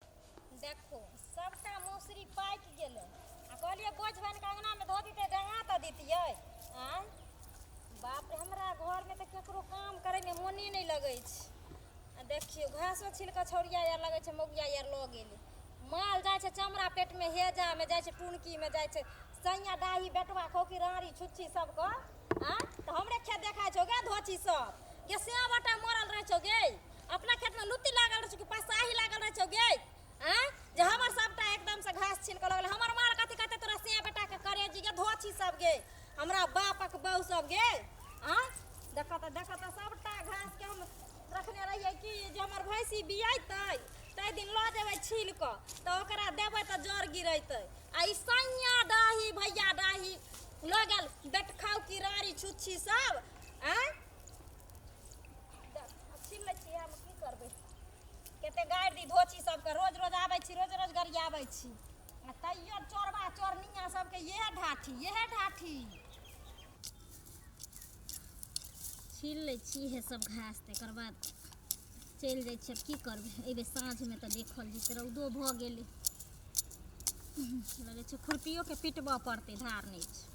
देखो सबटा मौसरी पाइक गेलै आ कहलियै बोझ बनि कऽ अङ्गनामे धऽ दितै डंगा तऽ दितियै आँय बाप रे हमरा घरमे तऽ केकरो काम करैमे मोने नहि लगै छै आ देखियौ घासो छिल कऽ छौरिया आर लगै छै मौगिया आर लऽ गेलै माल जाइ छै चमड़ा पेटमे हेजामे जाइ छै टुनकीमे जाइ छै सैया डाही बेटवा खौकी राँड़ी छुच्छी सबके आँय तऽ हमरे खेत देखाइ छौ गे धोची सब गे सएवटा मरल रहै छौ गे अपना खेतमे लुत्ती लागल रहै छै कि पसाही लागल रहै छौ गे आँय जे हमर सभटा एकदमसँ घास छीन कऽ लगल हमर माल कथी कहतै तोरा से बेटाके करेजी गे धोछी सब गे हमरा बापक बहू सब गे आँय देखऽ तऽ देखऽ तऽ सभटा घासके हम रखने रहियै कि जे हमर भैंसी बियेतै ताहि दिन लऽ जेबै छीन कऽ तऽ ओकरा देबै तऽ जर गिरेतै आ ई सैया डाही भैया डाही लऽ गेल बेटखाउ किरारी छुच्छी सब आँय छीन लै छियै हम की करबै कते गारि दी धोची सबके रोज रोज आबै छी रोज रोज गरियाबै छी आ तैयो चोरबा चोरनिया सबके इएह ढाठी इएह ढाठी छीन लै छी इएह सब घास तकर बाद चलि जाइ छियै की करबै एहि बेर साँझमे तऽ देखल जेतै रौदो भऽ गेलै लगै छै खुरपियोके पिटबऽ पड़तै धार नहि छै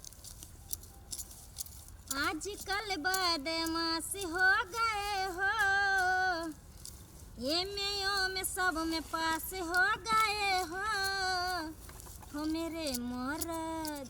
आजकल बदमाश हो गए हो ये में यो में सब में पास हो गए हो हो मेरे मरद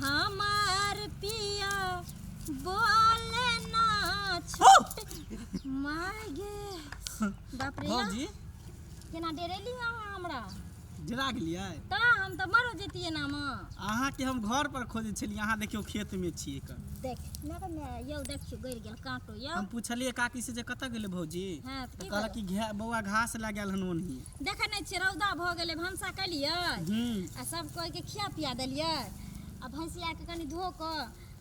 हमार पिया बोले ना छोट मागे बाप रे भौजी केना डेरेली अहाँ हमरा जरा गेलियै तऽ हम तऽ मरो जैतियै ना माँ अहाँके हम घर पर खोजै छलियै अहाँ देखियौ खेत मे छियै कऽ देख ना तऽ मैं यौ देखियो गड़ गेल कांटो यौ हम पुछलियै काकी से जे कतऽ गेलै भौजी हाँ तऽ तऽ की कहलक कि घे- बौआ घास लए गेल हन ओनही देखे नहीं छे रौदा भ गेले भनसा कलिए आ सब कोई के खिया पिया दिलिए आ भैंसिया के कनी धो क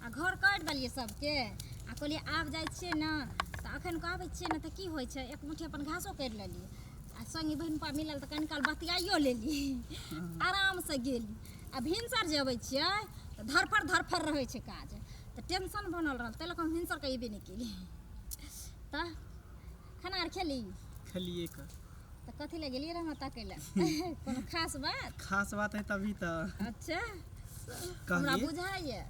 आ घर कर दिलिए सबके आ कहलिए आब जाय छे न त अखन को आबे छे न त की होय छे एक मुठी अपन घासो कर लेलिए आ संगी बहन पा मिलल त कनी काल बतियाइयो लेली आराम से गेली आ भिनसर जे अबै छिए त धरफर धरफर रहै छे काज त टेंशन बनल रहल तै लक हम भिनसर के अयबे नहीं केलिए त खाना आर खेली खेलिए का तऽ कथी लए गेलियै रह हमरा ताकै लए कोनो खास बात खास बात है तभी तो अच्छा हमरा कहली बुझाइए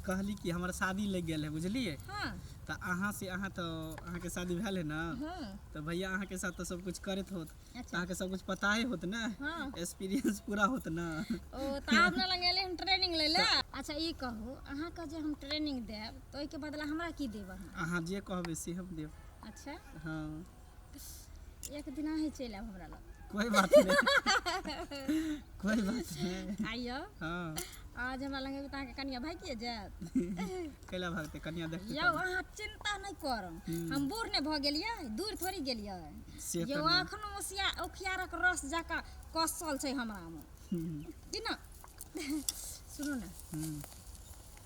कहली कि हमारा शादी लग गया है बुझलिए हाँ तो अहाँ से अहाँ तो अहाँ के शादी भेल है ना हाँ तो भैया अहाँ के साथ तो सब कुछ करत होत तो अच्छा अहाँ के सब कुछ पता ही होत ना हाँ एक्सपीरियंस पूरा होत ना ओ तऽ आब ने लग गेलै हम ट्रेनिंग लै लए अच्छा ई कहू अहाँके जे हम ट्रेनिंग देब तऽ ओहिके बदला हमरा की देब अहाँ अहाँ जे कहबे से हम देब अच्छा हाँ एक दिना ही चलि आयब हमरा लग कोई बात नहीं कोई बात नहीं आइयो हाँ आज हमरा लग एबै तऽ अहाँके कनिया भागिए जायत कैला भागते कन्या देख यौ अहाँ चिन्ता नहि करू हम्म। हम बूढ़ नहि भऽ गेलियै दूर थोड़ी गेलियै से यौ तऽ एखनो ओसिया ओखियारक रस जकाँ कसल छै हमरामे हम्म, कि ने सुनू ने हम्म।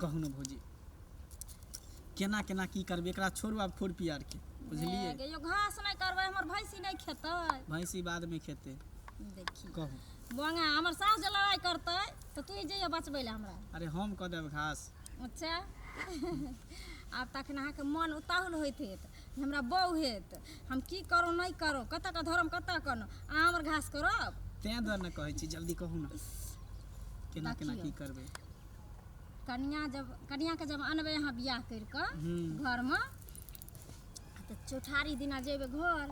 कहू ने भौजी केना केना की करबै एकरा छोड़ू आब फोड़ पियारके बुझलियै ए, यौ घास नहि करबै हमर भैंसी नहि खेतै भैंसी बादमे खेतै देखी कहू बंगा हमर सास जे लड़ाई करतै तऽ तू ही जइया बचबै लए हमरा अरे हम कऽ देब घास अच्छा आब तखन अहाँके मन उताहुल होइत हैत जे हमरा बौ हैत हम की करो नहि करो कतऽ के धरम कतऽ कनो अहाँ हमर घास करब तेँ दुआरे ने कहै छी जल्दी कहू ने केना केना की देखियौ। करबै कनिया जब कनियाके जब अनबै अहाँ बियाह करि कऽ हूँ। घरमे तऽ चौठारी दिना जेबै घर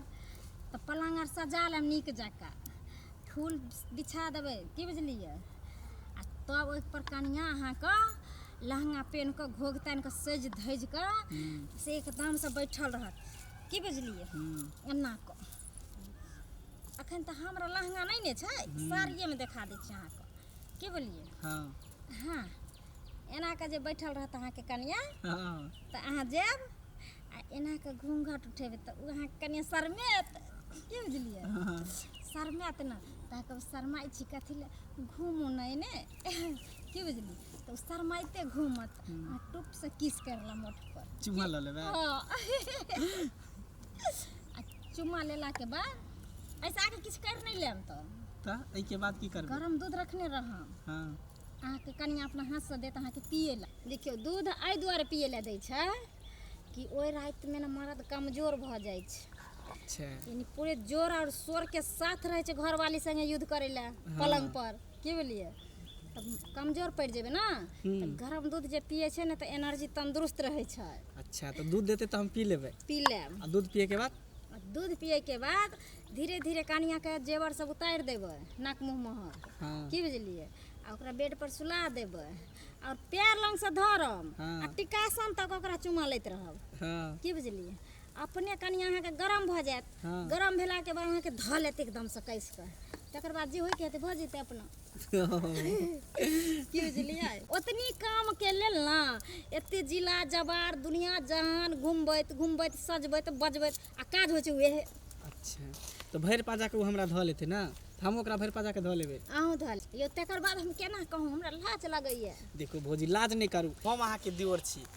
तऽ पलङ्ग आर सजा लेब नीक जकाँ फूल बिछा देबै की बुझलियै आ तब ओहिपर कनिया अहाँके लहंगा पेन्ह कऽ घोघ तानि कऽ सजि धजि कऽ से एकदमसँ बैठल रहत की बुझलियै हूँ। एना कऽ अखन तऽ हमरा लहंगा नहि ने छै साड़िएमे देखा दै छी अहाँके की बोलिए हाँ हाँ एना के जे बैठल रहत अहाँ के कनिया हाँ तो अहाँ जाएब आ एना के घूंघट उठेबे तो अहाँ के कनिया शर्मेत की बुझलिए हाँ शर्मेत ना तो अहाँ कहब शर्माई छी कथी ले घूमू नहीं ने की बुझली तो शर्माइते घूमत आ टुप से किस करला मोट पर चुमा लऽ लेबै हाँ आ चुम्मा लेलाके बाद ऐसा आगे किछु करि नहि लेम तऽ तऽ एहिके बाद की करबै गरम दूध रखने रहम हँ अहाँके कनिया अपना हाथसँ देत अहाँके पिए लए देखियौ दूध एहि दुआरे पिए लए दै छै कि ओहि रातिमे ने मर्द कमजोर भऽ जाइ छै अच्छा यानी पूरे जोर और शोर के साथ रहे छै घरवाली संगे युद्ध करे ला पलंग पर की बुझलियै तऽ कमजोर पड़ि जेबै ने तऽ गरम दूध जे पियै छै ने तऽ एनर्जी तन्दुरुस्त रहै छै अच्छा तऽ दूध देतै तऽ हम पी लेबै पी लेब आ दूध पियैके बाद आ दूध पियैके बाद धीरे धीरे कनियाँके जेवर सब उतारि देबै नाक मुँह महर हँ की बुझलियै आ ओकरा बेड पर सुला देबै आओर पैर लंगसँ धरम हँ। आ टिकासन तक ओकरा चुमा लैत रहब हँ की बुझलियै अपने कनि अहाँके गरम भऽ जायत हँ। गरम भेलाके बाद अहाँके धऽ लेत एकदमसँ कसि कऽ तकर बाद जे होइके हेतै भऽ जेतै अपना की बुझलियै ओतनी कामके लेल ने एते जिला जवार दुनिया जहान घुमबैत घुमबैत सजबैत बजबैत आ काज होइ छै उएह अच्छा तऽ भरि पाजाके ओ हमरा धऽ लेतै ने तऽ हम ओकरा भरि पाजाके धऽ लेबै अहूँ धऽ लियौ तकर बाद हम केना कहूँ हमरा लाज लगैए देखू भौजी लाज नहि करू हम अहाँके दिवर छी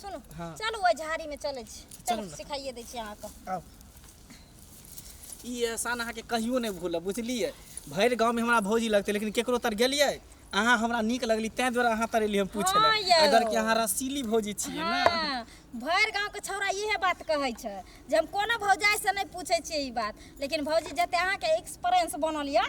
सुनू हाँ। चलू ओहि झाड़ी में चलै छी चलू चलू ने। सिखाइए दै छी अहाँके आउ ई एहसान अहाँके कहियो नहि भूलब बुझलियै भरि गाँवमे हमरा भौजी लगतै लेकिन केकरो तर गेलियै अहाँ हमरा नीक लगली ताहि दुआरे अहाँ तर एलियै हम पूछे हाँ लए यौ। अगर कि अहाँ रसीली भौजी छियै ने हाँ भरि गाँव के छौड़ा इहे बात कहै छै जे हम कोनो भौजाइ से नहि पूछै छियै ई बात लेकिन भौजी जते अहाँके एक्सपीरियंस बनल यऽ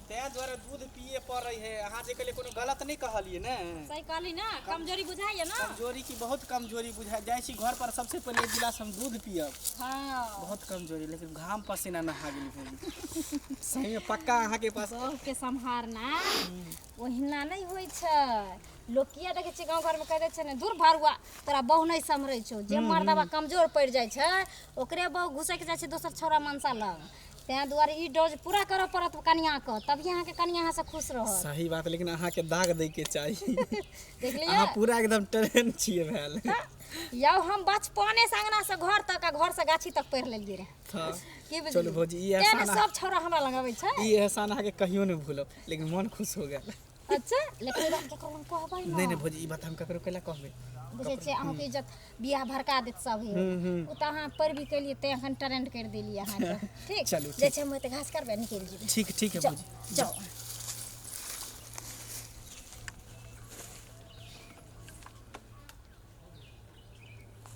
तैं दुआरे दूध पिये पड़ै है अहाँ जे कहलियै कोनो गलत नहि कहलियै ने सही कहली ना कमजोरी बुझाइए ना कमजोरी की बहुत कमजोरी बुझा जाइ छी घर पर सबसे पहिले एक गिलास हम दूध पियब हाँ बहुत कमजोरी लेकिन घाम पसीना नहा गेली भौजी सही में पक्का अहाँ के पास सबके सम्हारना ओहिना नहि होइ छै लोक किया देखै छै गाँव घरमे कहै छै ने दूर भरुआ तोरा बहु नहि सम्हरै छौ जे मर्दबा कमजोर पड़ि जाइ छै ओकरे बहु घुसैक जाइ छै दोसर छौड़ा मनसा लग तैं दुआरे ई डोज पूरा करऽ पड़त कनिया के तभी अहाँ के कनिया अहाँ से खुश रहत सही बात लेकिन अहाँ के दाग दै के चाहिए देख लिया अहाँ पूरा एकदम ट्रेन छिए भेल यौ हम बचपने से अंगना से घर तक आ घर से गाछी तक पढ़ि लेलियै रहे था की बुझलियै? चलू भौजी, ई तैं ने एहसान- सब छौड़ा हमरा लग अबै छै ई एहसान अहाँ के कहियो नहीं भूलब लेकिन मन खुश हो गेल अच्छा लेकिन ई बात केकरो लग कहबै नहि नहि भौजी ई बात हम ककरो कैला कहबै बुझै छियै अहूँके इज्जत बियाह भड़का देत सब हे हम्म, हम्म। ओ तऽ अहाँ पर भी कैलियै तैं एखन ट्रेंड कर देलियै अहाँके ठीक चलू, ठीक। जाइ छै हम ओते घास करबै निकलि जेबै ठीक ठीक है जाउ भौजी जाउ